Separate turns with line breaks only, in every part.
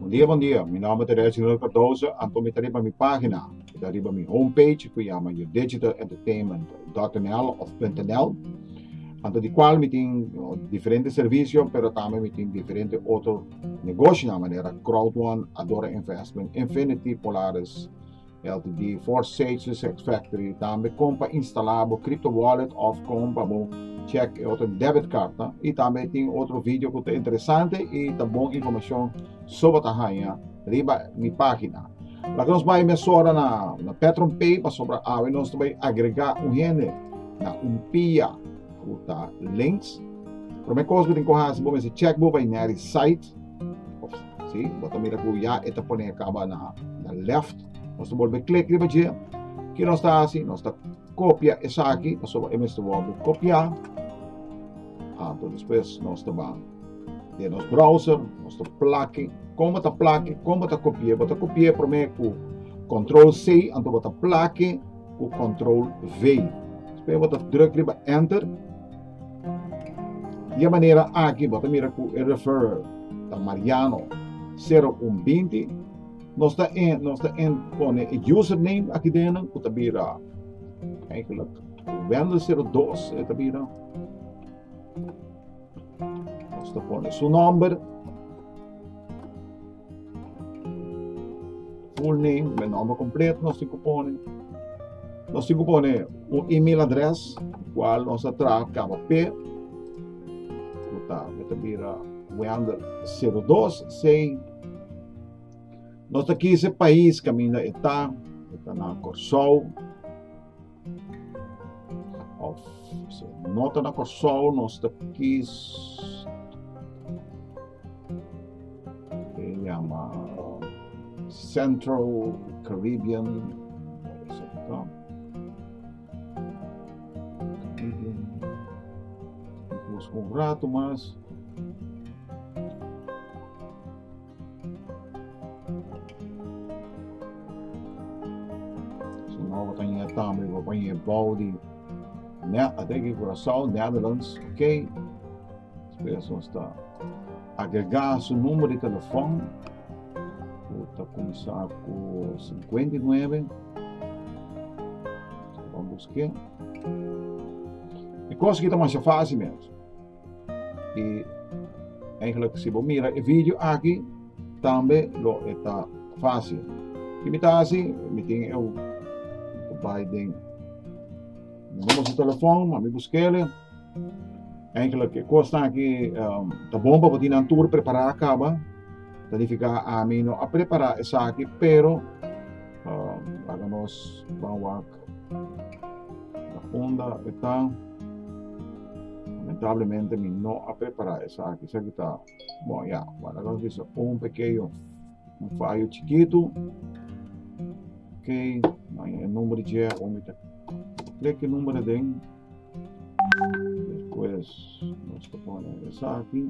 Bon dia bon dia mi nomber ta Reginald Cardoso anto mi ta riba mi pagina mi ta riba mi home page cu yama your digital entertainment dot nl of punto nl anto di cual mi tin diferente servicio pero tambe mi tin diferente otro negoshonan manera crowd one adora investment infinity polaris LTD for Sage Sex Factory tambe kon pa instala bo crypto wallet of kon pa bo check e otro debit card ta y tambe tin otro video ku ta interesante y ta bon informacion soba ta haya riba mi pagina. Laga nos bai mesora na, na Petron Pay pa sobra awe nos ta bai agrega un hende na un pia ku ta links. Prome kos ku tin ko hasi bo mester check bo pa ineri site Sí, bo ta mira ku ya e ta pone kaba na, na left. Nos ta bolbe klik riba dje. Ki nos ta hasi? Nos ta kopia esaki, pasobra e mester wòrdu bo kopia. Anto despues nos ta ban den nos browser, nos ta plaki. Kon bo ta plaki? Kon bo ta kopi'é? Bo ta kopi'é promé ku control C, anto bo ta plaki ku control V. Despues bo ta druk riba enter. Di e manera aki bo ta mira ku e referrer ta Mariano sero un binti. Nos ta en nos ta en pone e user name aki dena ku ta bira eigenlijk Wendel sero dos e ta bira. Nos ta pone su nomber. Full name, mi nomber completo nos tin cu pone. Nos tin cu pone un email address cual nos a traha caba P. Cu ta, mi ta bira Weander 02 Sei. Nos ta kise pais caminda e ta. E ta na Corsou. Of so, no ta na Kòrsou, nos ta kis e yama Central Caribbean Busca un rato mas. So now bo ta yega tambe bo pone e bou di net a treki Curaçao, Netherlands, ok. Spera su hasta agrega su numero di telefon. Bo ta comenzá cu 59. Vamos buscar. E cosa ki ta masha fácil mero. Y eigenlijk si bo mira e video aki tambe lo e ta fácil. Y mi ta así, mi tin eu bai den mi mama su telefoon, ma mi buskele. Eigenlijk e kosnan aki um, ta bon pa bo tin nan tur prepará kaba. Ta nifiká ami no a prepará esaki, pero um, laga nos ban wak La funda e ta. Lamentablemente mi no a prepara esaki, esaki ta bon ya, wala nos bisa un pekeño un fayo chikitu, ok, nan e number dje a un mi ta klek e number aden, despues nos ta pone esaki.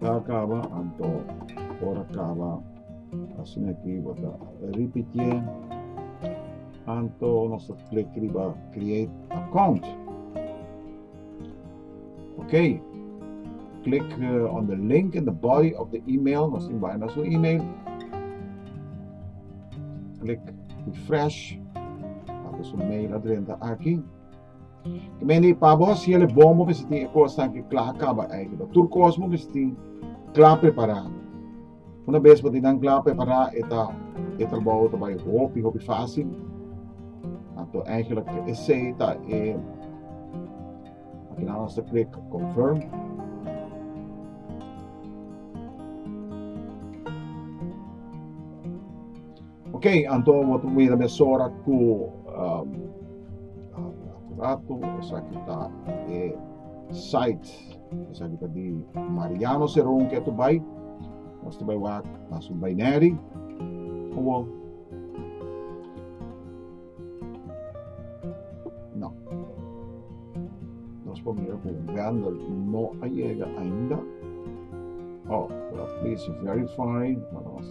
Ta kaba anto ora kaba asin aki bo ta ripitié anto nos ta klik riba create account ok klik on the link in the body of the email nos tin bai na su email klik refresh ato su mail adrenta aki. Ke men di pa bo si el e bon bo mester tin e kos aki kla kaba eiki bo tur kos bo mester tin kla prepará una bes bo tin nan kla prepará e ta e trabou ta bai hopi hopi fásil anto eigenlijk esei ta e afinal nos ta klik confirm Ok, anto wat a mira mesora ku um, rato, esa ki ta e site, esa ki ta di Mariano Seron ke tu bai, mas tu bai wak, mas un bai neri, owo, no. Nos por mira ku vendor no a llega ainda, oh, well, please verify, mas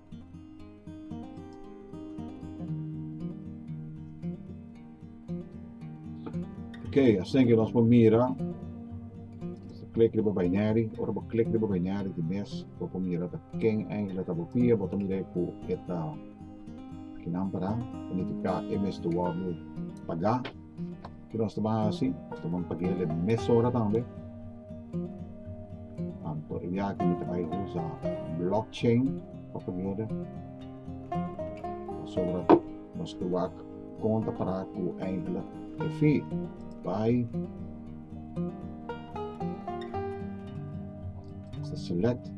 Oke asina nos por mira click riba binary ora bo click riba binary tin mes bo por mira ta ken engelha ta bo pia bo ta mira ku e ta kinan paran ta nifiká e mes tu wòrdu pagá. Ke nos ta ban hasi? Nos ta ban pag'el e mesora tambe. Anto eyaki mi ta bai usa blockchain pa pag'el. Pasobra nos ke wak konta para ku enkele e fee. Bai. Select.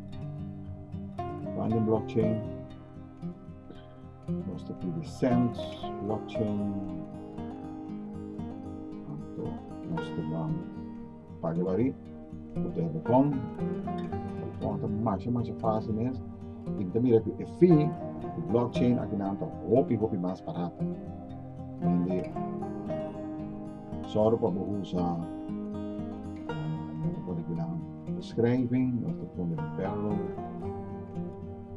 Bai na blockchain. Nos ta pidi cents, blockchain, anto nos ta ban paga bari cu te bocon, bocon ta masha masha fácil mes y mi ta mira cu e fee cu blockchain aki nan ta hopi hopi mas barato dende zorg pa bo usa nan ta pone aki nan beschrijving nos ta pone payroll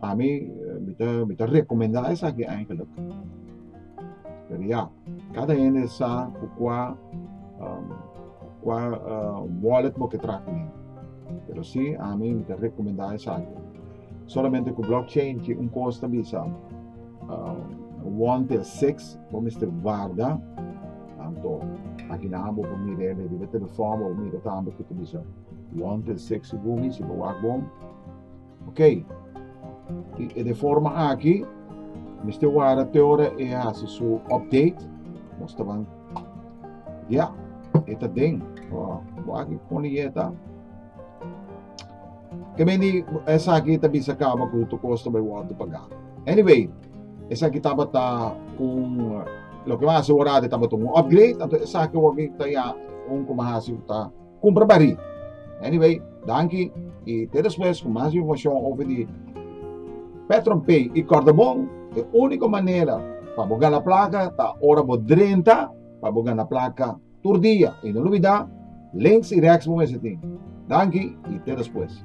Pa mi mi ta mi ta rekomendá esaki eigenlijk. Pero ya, kada hende sa ku kua um, kua uh, wallet bo ke tra kuné. Pero si, ami mi ta rekomendá esaki. Solamente ku blockchain ki un kos ta bisa uh, 1 til 6 bo mister guarda tanto aki na bo por mire le riba telefon bo mire tambe ku ta bisa 1 til 6 gumi si bo wak bom Oké, e de forma aki, mester wara te ora e hasi su update. Nos ta ban, ya, e ta den. Oh, bo aki pone yeta. Ke men di, esa aki ta bisa kaba ku tu kosta bai wordo pagá. Anyway, esa aki tabata un, loke mas hasi worado tabata un upgrade, anto esa aki wordo ta ya un ku mas hasi ku ta Cumpra pa ri. Anyway, danki y te despues cu mas informacion over di Petron Pay y Cordobon. E unico manera pa bo gana placa ta ora bo drenta pa bo gana placa tur dia. Y no lubida Links y Rex bo mester tin. Danki y te despues.